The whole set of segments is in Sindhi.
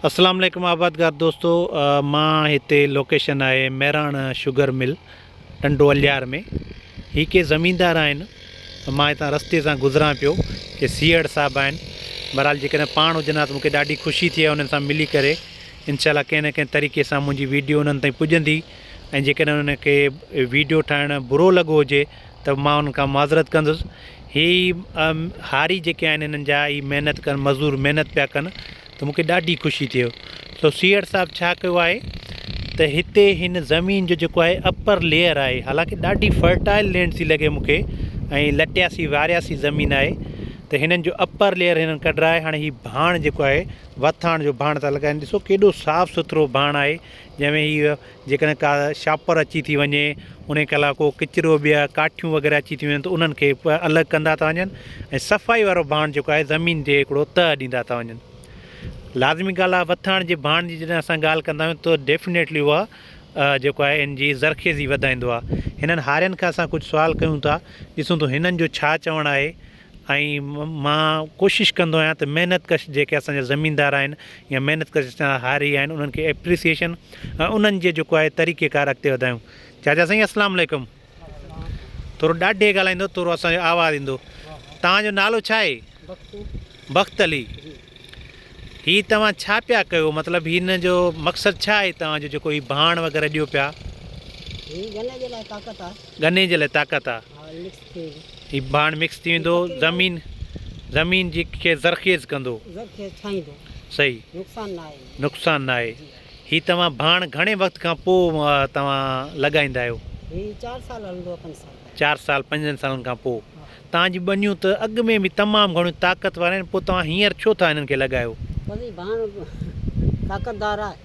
اسلام عليڪم آبادگار دوستو مان هتي لوڪيشن آهي مهراڻ شوگر مل ٽنڊو اليار ۾ هي ڪي زميندار آهن مان هتان رستي سان گذران پيو ڪي سيئڙ صاحب آهن بهرحال جيڪڏهن پاڻ هجن ها ته مونکي ڏاڍي خوشي ٿئي انهن سان ملي ڪري انشاء الله ڪنهن نه ڪنهن طريقي سان منهنجي ويڊيو انهن تائين پڄندي ۽ جيڪڏهن انهن کي ويڊيو ٺاهڻ برو لڳو هجي ته مان انهن کان معذرت ڪندس. هي هاري جيڪي آهن هنن جا هي محنت ڪن مزور محنت پيا ڪن ته مون کي ڏاڍي خوشي ٿئي سو سيئڙ صاحب ڇا ڪيو آهي ته هتي هن زمين جو جيڪو آهي اپر ليئر آهي حالانڪه ڏاڍي فرٽائل لينڊ ٿي لڳي مون کي ۽ لٽياسي وارياسي زمين آهي ته هنن جو اپر ليئر هنن ڪڍرائي هاڻي هي ڀاڻ جيڪو آهي وٿاڻ جو ڀاڻ ٿا لڳائن ڏسو ڪيڏو صاف سٿرو ڀاڻ آهي جنهن ۾ هي جيڪڏهن ڪا شاپر اچي ٿي وڃي انهي کي علاوه ڪو ڪچرو ٻيا ڪاٺيون وغيره اچي ٿي وڃن ته انهن کي الڳ ڪندا ٿا وڃن ۽ صفائي وارو ڀاڻ جيڪو آهي زمين جي هڪڙو تهه ڏيندا ٿا وڃن لازمي ڳالهه آهي وٿاڻ جي ڀاڻ جي جڏهن اسان ڳالهه ڪندا آهيون ته ڊيفنيٽلي اها جيڪو آهي ان جي زرخيزي وڌائيندو آهي هنن هارين کان اسان ڪجهه سوال ڪيون ٿا ڏسون ٿو هنن جو ڇا چوڻ آهي ۽ مان ڪوشش ڪندو آهيان ته محنت ڪش جيڪي اسان جا زميندار آهن يا محنت ڪش اسان جا هاري آهن انهن کي ايپريسيئيشن ۽ انهن جي جيڪو آهي طريقي ڪار اڳتي وڌايون چاچا سائين اسلام عليڪم ٿورو ڏاڍي ڳالهائيندو ٿورو اسان جو آواز ايندو توهان جو نالو ڇا آهي بخت علي هي توهان ڇا پيا ڪيو مطلب هن جو مقصد ڇا آهي توهان جو جيڪو هي ڀاڻ وغيره ڏيو پيا ڳني جي لاء طاقت آهي ڳني جي لاء طاقت آهي هي ڀاڻ مڪس ٿي ويندو زمين زمين جي کي زرخيز ڪندو زرخيز ٺاهيندو صحيح نقصان نه آهي نقصان نه آهي هي توهان ڀاڻ گهڻي وقت کان پوء توهان لڳائيندا آهيو هي 4 سال هلندو 5 سال 4 سال 5 سالن کان پوء توهان جي ٻنيون ته اڳ ۾ به تمام گهڻيون طاقتور آهن پوء توهان هينئر ڇو ٿا هنن کي لڳايو بس هي ڀاڻ طاقتدار آهي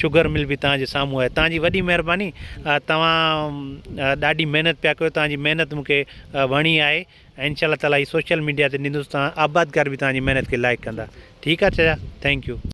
شگر مل به توهان جي سامهون آهي توهان جي وڏي مهرباني توهان ڏاڍي محنت پيا ڪيو توهان جي محنت مون کي وڻي آهي ۽ انشاء الله تعالٰي هي سوشل ميڊيا تي ڏيندوس توهان آبادگار به توهان جي محنت کي لائڪ ڪندا ٺيڪ آهي چچا ٿينڪ يو